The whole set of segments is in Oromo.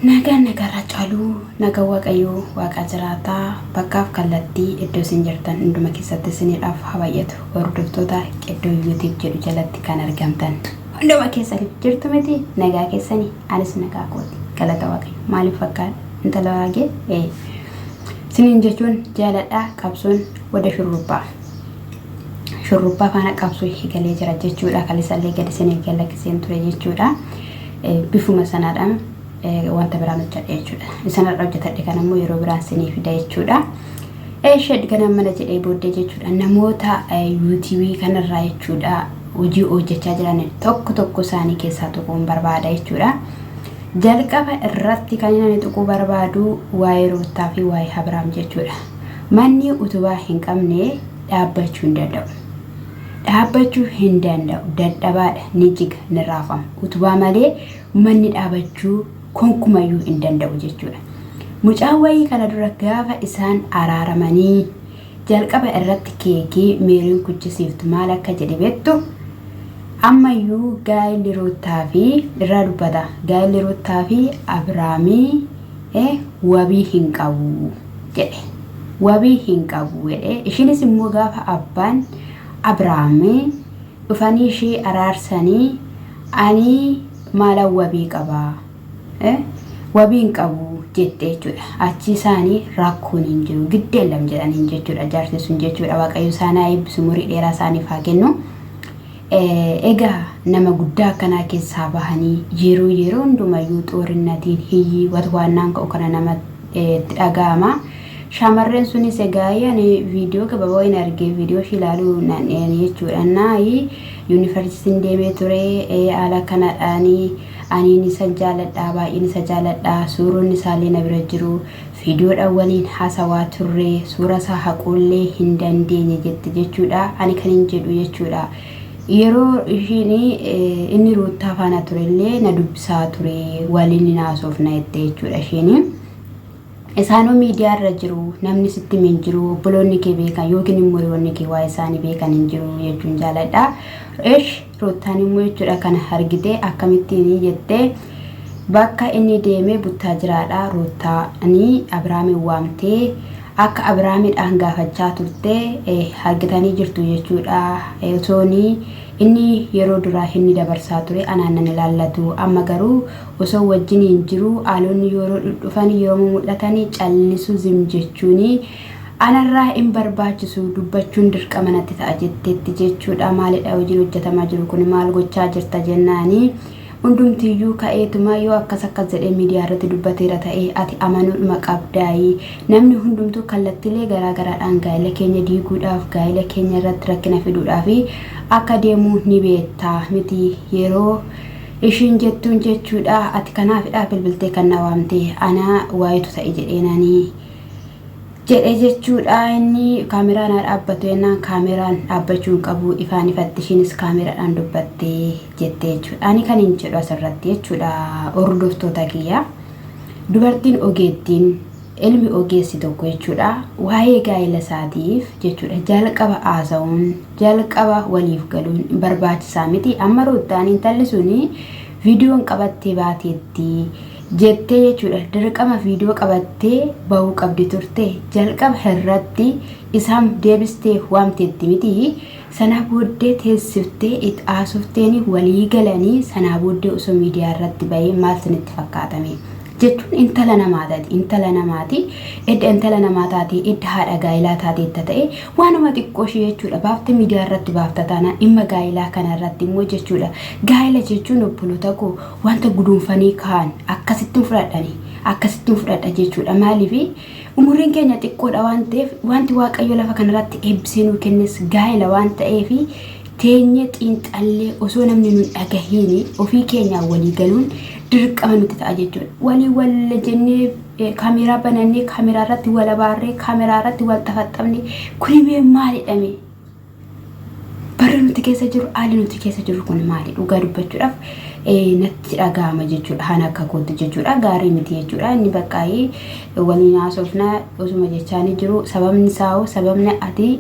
Nagaan nagaarraa caaluu naga waaqayyoo waaqaa jiraataa bakkaaf kallattii iddoo isin jirtan hunduma keessatti isiniidhaaf haa baay'atu hordoftoota qiddoo yuutiib jedhu jalatti kan argamtan hunduma keessaniif jirtu miti nagaa keessanii anis nagaa kooti galata waaqayyo maaliif fakkaadha intala waagee ee isiniin jechuun jaaladhaa qabsoon wada shurrubbaa. shurrubbaa faana qabsoo eegalee jira jechuudha. Kaleessallee gadi seenee gad lakkiseen ture jechuudha. Bifuma sanaadha wanta biraan hojjedhe jechuudha. Isan har'a hojjetadhe kan ammoo yeroo biraan seenee fida jechuudha. Eesheed gana mana jedhee booddee jechuudha. Namoota yuutuubii kanarraa jechuudha hojii hojjechaa jiran tokko tokko isaanii keessaa tuquun barbaada jechuudha. Jalqaba irratti kan inni tuquu barbaadu waa'ee ruuttaa fi waa'ee Abiraam jechuudha. Manni utubaa hin qabne dhaabbachuu hin danda'u. Dhaabbachuu hin danda'u, dadhabaadha, ni jiga, ni raafama. Utubaa malee manni dhaabachuu konkumayyuu hin danda'u jechuudha. Mucaan wayii kana dura gaafa isaan araaramanii jalqaba irratti keekii meeriin kuchisiiftu maal akka jedhe beektu ammayyuu gaa'illi ruuttaa fi irraa dubbata gaa'illi ruuttaa fi abiraamii e wabii hin qabu jedhe wabii hin qabu jedhe ishinis immoo gaafa abbaan abrahaamii dhufanii ishii araarsanii anii maala wabii qabaa e wabii hin qabu jette jechuudha achii isaanii rakkoon hin jiru giddeellam jedhaniin jechuudha jaarsi sun jechuudha waaqayyo isaanaa eebbisu umurii dheeraa isaaniif haa kennu. Egaa nama guddaa akkanaa keessaa bahanii yeroo yeroo hundumayyuu xoorinnatiin hiyyii watwaannaan ka'u kana nama itti dhaga'ama. Shaamarreen sunis egaa ani viidiyoo gabaabaa hin arge viidiyoo ishii ilaaluu nan ani jechuudha naayi yuunivarsiitiin deemee ture haala kanadhaani aniin isa jaaladha baay'een isa jaaladha suuronni isaallee na bira jiru. Viidiyoodhaan waliin haasawaa turre, suurasaa haquullee hin dandeenye jette jechuudha. Ani kanin jedhu jechuudha. Yeroo ishiin inni ruuttaa faana turellee na dubbisaa ture waliin ni haasofna jette jechuudha ishiin. Isaanoo miidiyaa irra jiru namni sitti hin jiru obboloonni kee beekan yookiin immoo hiriyoonni kee waa isaanii beekan hin jiru jechuun jaaladha. Esh Ruuttaan immoo jechuudha kana argitee akkamittiin jettee bakka inni deemee buttaajiraadha ruuttaani Abiraamiin waamtee akka Abiraamidhaan gaafachaa turte argitanii jirtu jechuudha osooni inni yeroo duraa inni dabarsaa ture anaan nan ilaallatu amma garuu osoo wajjiniin jiru aalonni yeroo dhufanii yeroo mul'atanii callisu zim jechuuni Anarraa hin barbaachisu, dubbachuun dirqama natti ta'a jetteetti jechuudha. Maalidha hojiin hojjetamaa jiru kun maal gochaa jirta jennaani hundumtiyyuu ka'eetuma yoo akkas akkas jedhee miidiyaa irratti dubbateera ta'e ati amanuudhuma qabdaayi. Namni hundumtuu kallattiilee garaa garaadhaan gaa'ila keenya diiguudhaaf gaa'ila keenya irratti rakkina fiduudhaaf akka deemu ni beekta miti yeroo ishiin jettuun jechuudha ati kanaafidha bilbiltee kan na waamte ana waayitu ta'e jedheenani jedhe jechuudha inni kaameraan haa dhaabbatu jennaan kaameraan dhaabbachuu hin qabu ifaan ifatti ishiinis kaameraadhaan dubbatte jette jechuudha ani kan hin jedhu asirratti jechuudha hordoftoota kiyya dubartiin ogeettiin ilmi ogeessi tokko jechuudha waa'ee gaa'ela isaatiif jechuudha jalqaba haasa'uun jalqaba waliif galuun barbaachisaa miti amma ruuttaan intalli suni viidiyoon qabattee baateetti jettee jechuudha dirqama viidiyoo qabattee bahuu qabdi turte jalqaba irratti isaan deebistee waamteetti miti sanaa booddee teessiftee it haasofteeni walii galanii sanaa booddee osoo miidiyaa irratti bahee maal sinitti fakkaatame jechuun intala namaa taati intala namaati edda intala namaa taatee edda haadha gaa'ilaa taateetta ta'e waanuma xiqqoo ishee jechuudha baafte miidiyaa irratti baafta taanaan dhimma gaa'ilaa kana irratti immoo jechuudha gaa'ila jechuun obboloota koo wanta guduunfanii kaa'an akkasittin fudhadhani akkasittin fudhadha jechuudha maaliif umuriin keenya xiqqoodha waan ta'eef wanti waaqayyo lafa kanarratti eebbisee nuu kennes gaa'ela waan ta'eef teenyee xiinxallee osoo namni nun dhagahiini ofii keenyaa walii galuun dirqama nutti ta'a jechuudha walii walla jennee eh, kaameeraa banannee kaameeraa irratti wal abaarree kaameeraa irratti wal xafaxxabne kuni mee maalidha mee Barri nuti keessa jiru haalli nuti keessa jiru kun maali dhugaa dubbachuudhaaf natti dhaga'ama jechuudha kan akka kootti jechuudha gaarii miti jechuudha inni baqqaa'ee waliin haasofna osuma jechaanii jiru sababni isaa hoo sababni ati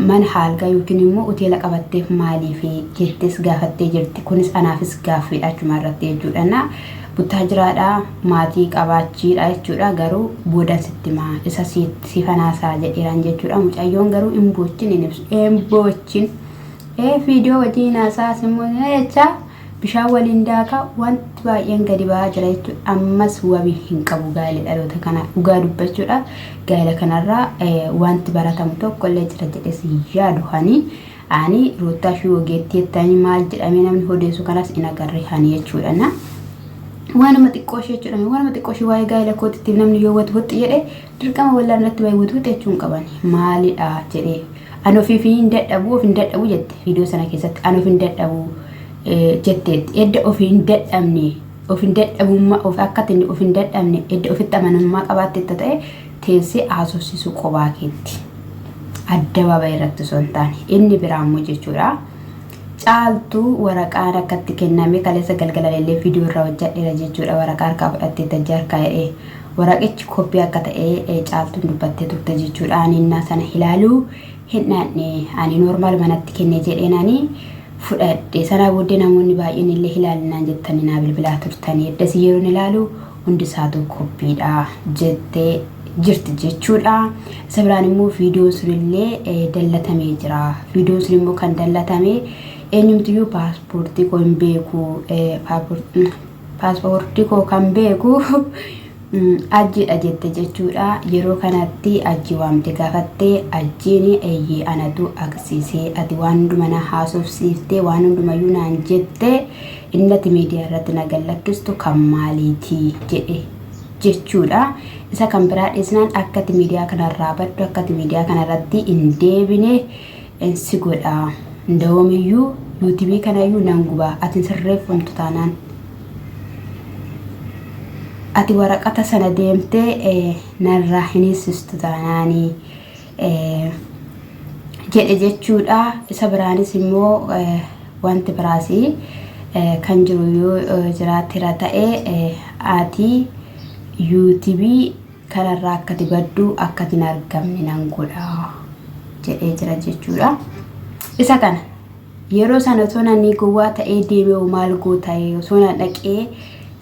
mana haalgaa yookiin immoo hoteela qabatteef maaliif jettees gaafattee jirti kunis anaafis gaaffiidha achuma irratti jechuudha. Buttaa jiraadha maatii qabaachiidha jechuudha garuu boodan sitti himaa isa siifan haasa'a jedheeraan jechuudha mucayyoon garuu hin boochin hin ibsu hin boochin ee fiidiyoo wajjin haasa'a immoo jechaa bishaan waliin daakaa wanti baay'een gadi ba'aa jira jechuudha ammas wabii hin qabu gaa'ela dhaloota kanaa dhugaa dubbachuudhaaf gaa'ela kanarraa wanti baratamu tokko illee jira jedhes yaadu hanii Ani ruuttaa fi ogeettii jettanii maal jedhamee namni hodeessu kanas hin agarre ani jechuudha na waanuma xiqqoo ishee jechuudha waanuma xiqqoo ishee waa'ee gaa'ela kootitti namni yoo wati wuxxi jedhe dirqama wallaan irratti waa'ee wati wuxxi jechuun qaban maalidha jedhee ani ofiif hin dadhabu of hin dadhabu jette viidiyoo sana keessatti ani of hin dadhabu jetteetti edda of hin dadhabne of hin dadhabummaa of akkatti of hin dadhabne edda ofitti amanamummaa qabaatte ta'e teessee haasofsiisuu qobaa keetti. Addabaabayi irratti osoo hin taane. Inni biraa immoo jechuudha. Caaltuu waraqaan akka itti kenname kaleessa galgalan illee viidiyoo irraa hojjadheera jechuudha. Waraqaa harkaa fudhattee tajjii harkaa jedhee. Waraqichi koppii akka ta'e caaltuun dubbattee turte jechuudha. Ani innaa sana ilaaluu hin dhaanne. Ani noormaal manatti kenne jedheen ani fudhadhe. Sanaa booddee namoonni baay'een illee ilaalinaan jettanii naa bilbilaa turtanii. Eddasii yeroon ilaalu hundisaatuu koppiidha jette jirti jechuudha. Isa biraan immoo viidiyoon sunillee eh, dallatamee jira. Viidiyoon sun immoo kan dallatame eenyumtiyyuu paaspoortii koo hin beeku eh, paapor- mm, paaspoortii koo kan beeku mm, ajjiidha jette jechuudha. Yeroo kanatti ajji waamte gaafatte ajjiin eeyyee anatu agarsiisee ati waan hundumaa na haasofsiiftee waan hundumayyuu naan jette Inni ati miidiyaa irratti na gallakkistu kan maaliiti jedhe jechuudha. Isa kan biraa dhisnaan akka ati miidiyaa kanarraa baddu akka ati miidiyaa kanarratti hin deebine si godha. Ndawoomiyyuu yuutubii kanayyuu nan guba ati hin sirreeffamtu taanaan. Ati waraqata sana deemtee narraa hin hiisistu taanaanii. jedhe jechuudha. Isa biraanis immoo wanti biraas kan jiru yoo jiraatera ta'e ati yuutubii kanarraa akkati baddu akkati hin argamne nan godha jedhee jira jechuudha. Isa kana yeroo sana osoo namni gowwaa ta'ee deeme hoo maal goota osoo na dhaqee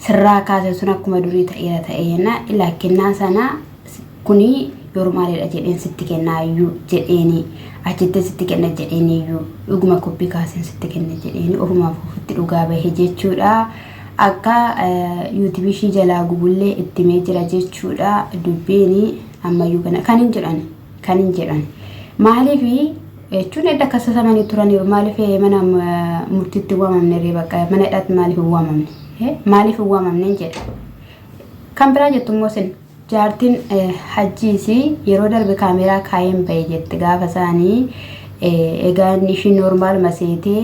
sirraa kaase sun akkuma durii ta'eera ta'ee jenna lakkinnaa sana kuni normaalidha jedheen sitti kennaa iyyuu jedheeni achitti sitti kenna jedheen iyyuu dhuguma koppi kaaseen sitti kenna jedheeni ofumaaf ofitti dhugaa bahe jechuudha. Akka yuutubii ishii jalaa gubullee itti mee jira jechuudha dubbiini ammayyuu kana kan hin jedhan kan hin jedhan maaliif jechuun edda kasasamanii turaniiru maaliif mana murtiitti waamamne ree bakka mana hidhaatti maaliif hin waamamne maaliif hin waamamne jedha kan biraa jettu immoo sin Jaartin hajjii isii yeroo darbe kaameeraa kaayeen bahe jette gaafa isaanii egaa inni ishii noormaal maseetee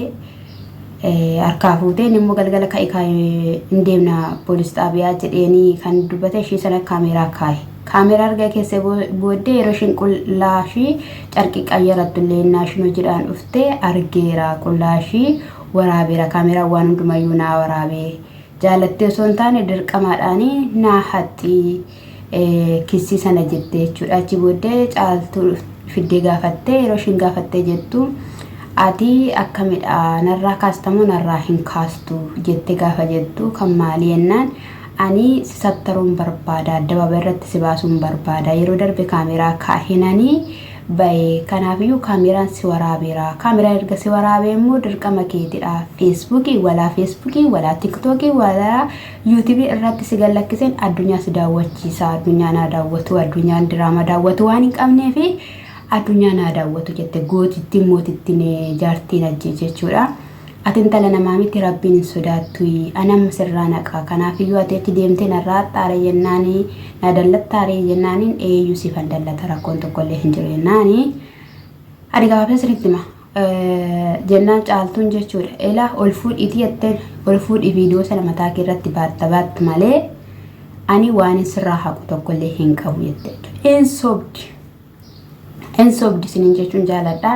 harkaa fuutee inni immoo galgala ka'i kaayee hin deemna poolis xaabiyaa jedheenii kan dubbate ishii sana kaameeraa kaaye. Kaameeraa erga keessee booddee yeroo ishiin qullaa ishii carqii qayyarattu illee innaa ishiin hojiidhaan dhufte argeera qullaa ishii waraabeera kaameeraan waan hundumayyuu naa waraabee. Jaalattee osoo hin taane dirqamaadhaan naa haxxii kissii sana jettee jechuudha. Achi booddee caaltuu fiddee gaafattee yeroo ishiin gaafattee jettu ati akkamidha narraa kaastamoo narraa hin kaastu jettee gaafa jettu kan maalii jennaan ani si sattaruun barbaada addababa irratti si baasuun barbaada yeroo darbe kaameeraa kaahinanii baye kanaafiyyuu kaameeraan si waraabeera kaameeraan erga si waraabee immoo dirqama keetidha feesbuukii walaa feesbuukii walaa tiktookii walaa yuutubii irratti si gallakkiseen addunyaa si daawwachiisa addunyaa naa daawwatu addunyaan diraamaa daawwatu waan hin qabnee fi addunyaa naa daawwatu jette gootittiin mootittiin jaartiin ajjee jechuudha. Ati intala namaa miti Rabbiin hin sodaattuyi. Ani amma sirraa naqa. Kanaafiyyuu ati achi deemtee narraa haxxaare jennaani na dallattaaree? jennaaniin eeyyuu siifan dallata rakkoon tokkollee hin jiru jennaani. Ani gabaabsee sinitti hima. Jennaan caaltuun jechuudha. Ela ol fuudhiitii jetteen ol fuudhii viidiyoo sana mataa kee irratti baatta baatta malee ani waan sirraa haqu tokkollee hin qabu jette jechuudha. Hin sobdi. Hin sobdi isiniin jechuun jaaladha.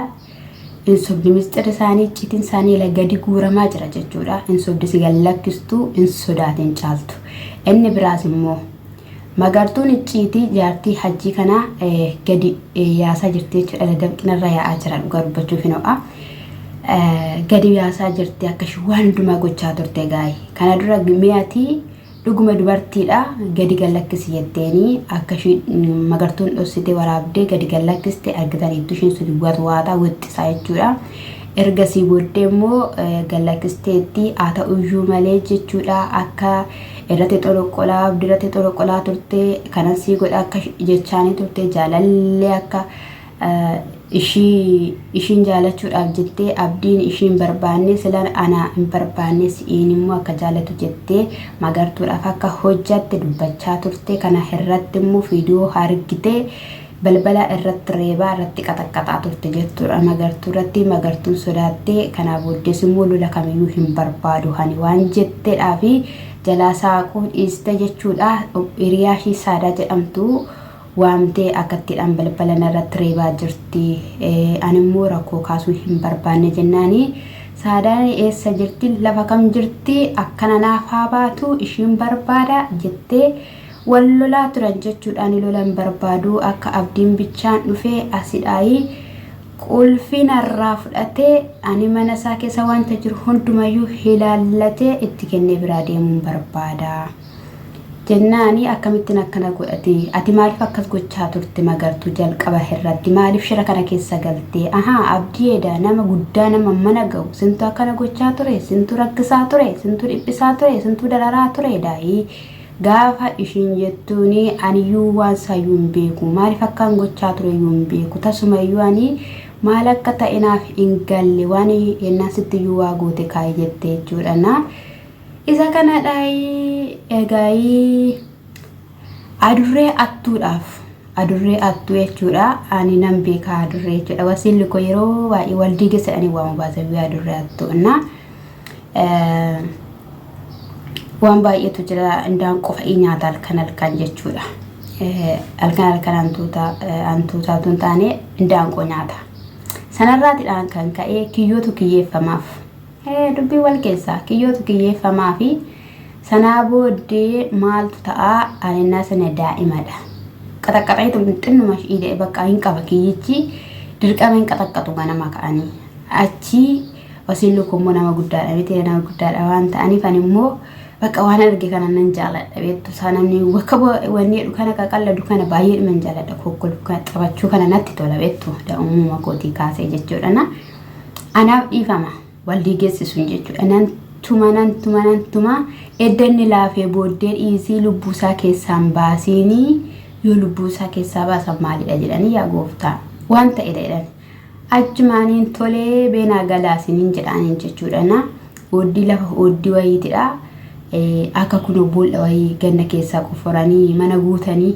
Hin sobdi misxirri isaanii icciitiin isaanii ila gadi guuramaa jira jechuudha. Hin sobdi si gad lakkistuu hin sodaatin caaltu. Inni biraas immoo magartuun icciitii jaartii hajjii kanaa eh, gadi eh, yaasaa jirti jechuudha. Ila danqinarra yaa'aa jira dhugaa dubbachuuf hin ho'a. Eh, Gadi yaasaa jirti akka ishee waan hundumaa gochaa turte gaayi. Kana dura mi'atii Dhuguma dubartiidha gadi gad lakkisi jetteeni akka ishii magartuun dhossite waraabdee gadi gad lakkiste argitaniittu ishiin sun watwaataa wixxisaa jechuudha. Ergasii booddee immoo gad lakkisteetti haa ta'uyyuu malee jechuudha akka irratti xoloqqolaa abdirratti xoloqqolaa turte kanan sii godha akka jechaanii turte jaalallee akka ishii ishiin jaalachuudhaaf jettee abdiin ishiin barbaanne sila ana hin barbaanne si'iin immoo akka jaalatu jettee magartuudhaaf akka hojjatte dubbachaa turte kana irratti immoo viidiyoo argite balbala irratti reebaa irratti qaxaqqaxaa turte jechuudha magartuu irratti magartuun sodaattee kanaa booddees immoo lola kamiyyuu hin barbaadu hani waan jetteedhaa fi jalaa saaquu dhiiste jechuudha hiriyaa ishii saadaa jedhamtu waamtee akkattiidhaan balbala narratti reebaa jirti. Animmoo rakkoo kaasuu hin barbaanne jennaani Saadaan eessa jirti lafa kam jirti akkana naaf haa baatu ishiin barbaada jettee wal lolaa turan jechuudhaan lola hin barbaadu akka abdiin bichaan dhufee asidhaayi qulfii narraa fudhatee ani mana isaa keessa wanta jiru hundumayyuu hilaallatee itti kennee biraa deemuun barbaada. Jennaani akkamittin akkana god'ate? Ati maaliif akkas gochaa turte magartu jalqaba hirratti maaliif shira kana keessa galte? Ahaa abdii eda nama guddaa nama mana gahu sintu akkana gochaa ture sintu rakkisaa ture sintu dhiphisaa ture sintu dararaa ture daayi gaafa ishiin jettuuni aniyyuu waan saayyuu hin beeku maaliif akkaan gochaa ture iyyuu hin beeku tasumayyuu ani maal akka ta'e naaf hin galle waan yennaan sittiyyuu waa goote kaayi jette jechuudha na Isa kanadhaayii egaayii adurree attuudhaaf adurree attuu jechuudha ani nan beeka adurree jechuudha wasiilli koo yeroo baay'ee waldii keessa ani waan baasa biyya adurree attuu na waan baay'eetu jira indaan qofa i nyaata halkan halkan jechuudha halkan halkan hantuuta hantuuta tun taane indaan qoo nyaata sanarraatidhaan kan ka'ee kiyyootu kiyyeeffamaaf Ee, dubbii wal keessaa kiyyootu kiyyeeffamaa fi sanaa booddee maaltu ta'a ani innaa sana daa'imadha. Qaxaqqaxeetu xinnuma ishii bakka hin qaba kiyyichi dirqama hin qaxaqqaxu ganama ka'anii. Achii wasiin lukkuu immoo nama guddaadha miti nama guddaadha waan ta'aniif ani immoo bakka waan arge kana nan jaaladha beektu isaa namni bakka wanni jedhu kana qaqalladu kana baay'ee dhuma hin jaaladha kokkolfu kana taphachuu kana natti tola beektu da'umuma kootii kaasee jechuudha na. anaaf dhiifama wal diigessisuun jechuudha nan tuma nan tuma nan tuma edda inni laafee booddee dhiisii lubbuusaa keessaan baasiinii yoo lubbuusaa keessaa baasan maalidha jedhanii yaa gooftaa waan ta'edha jedhan achumaaniin tolee beenaa galaasiniin jedhaaniin jechuudha na ooddii lafa ooddii wayiitidha akka kunoo boolla wayii ganna keessaa qofforanii mana guutanii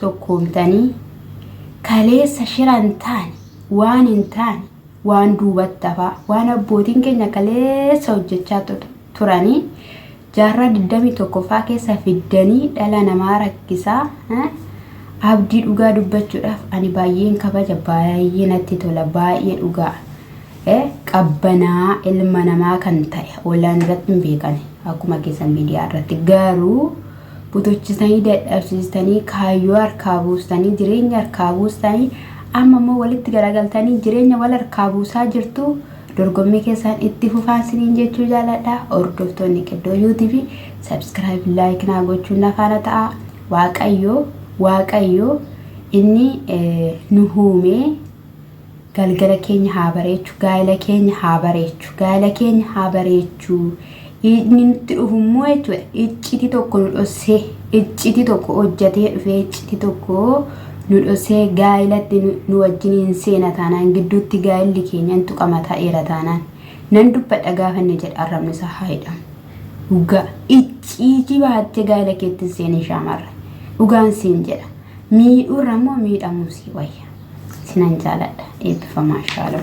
tokkoomtanii kaleessa shira hin taane waan hin taane waan duubatti hafaa waan abbootiin keenya kaleessa hojjechaa tu- turanii jaarraa 21ffaa keessa fiddanii dhala namaa rakkisaa eh, abdii dhugaa dubbachuudhaaf ani baay'een kabaja baay'ee natti tola baay'ee dhugaa eh, qabbanaa ilma namaa kan ta'e ollaan irratti hin beekane akkuma keessan miidiyaa irratti garuu butuchisanii dadhabsiistanii kaayyoo harkaa buustanii jireenya harkaa buustanii amma immoo walitti garagaltanii jireenya wal harkaa buusaa jirtu dorgommii keessaan itti fufaa isiniin jechuu jaaladha hordoftoonni qiddoo yuutiifi sabskiraayib laayik naa gochuun na faana ta'a waaqayyoo waaqayyoo inni eh, nu huumee Galgala keenya haa bareechu gaa'ela keenya haa bareechu gaa'ela keenya haa bareechu inni nutti dhufu immoo jechuudha iccitii tokko nu dhossee iccitii tokko hojjatee dhufee iccitii tokko nu dhossee gaa'elatti nu, nu wajjiniin seena taanaan gidduutti gaa'elli keenya in tuqama ta'eera taanaan nan dubbadha gaafa inni jedhe arrabni isaa haa hidhamu. Dhugaa icciitii baattee gaa'ela keetti hin seenin shaamarra dhugaan siin jedha. Miidhuurra immoo miidhamuun sii wayya. Sinan jaaladha eebbifamaa shaaloo.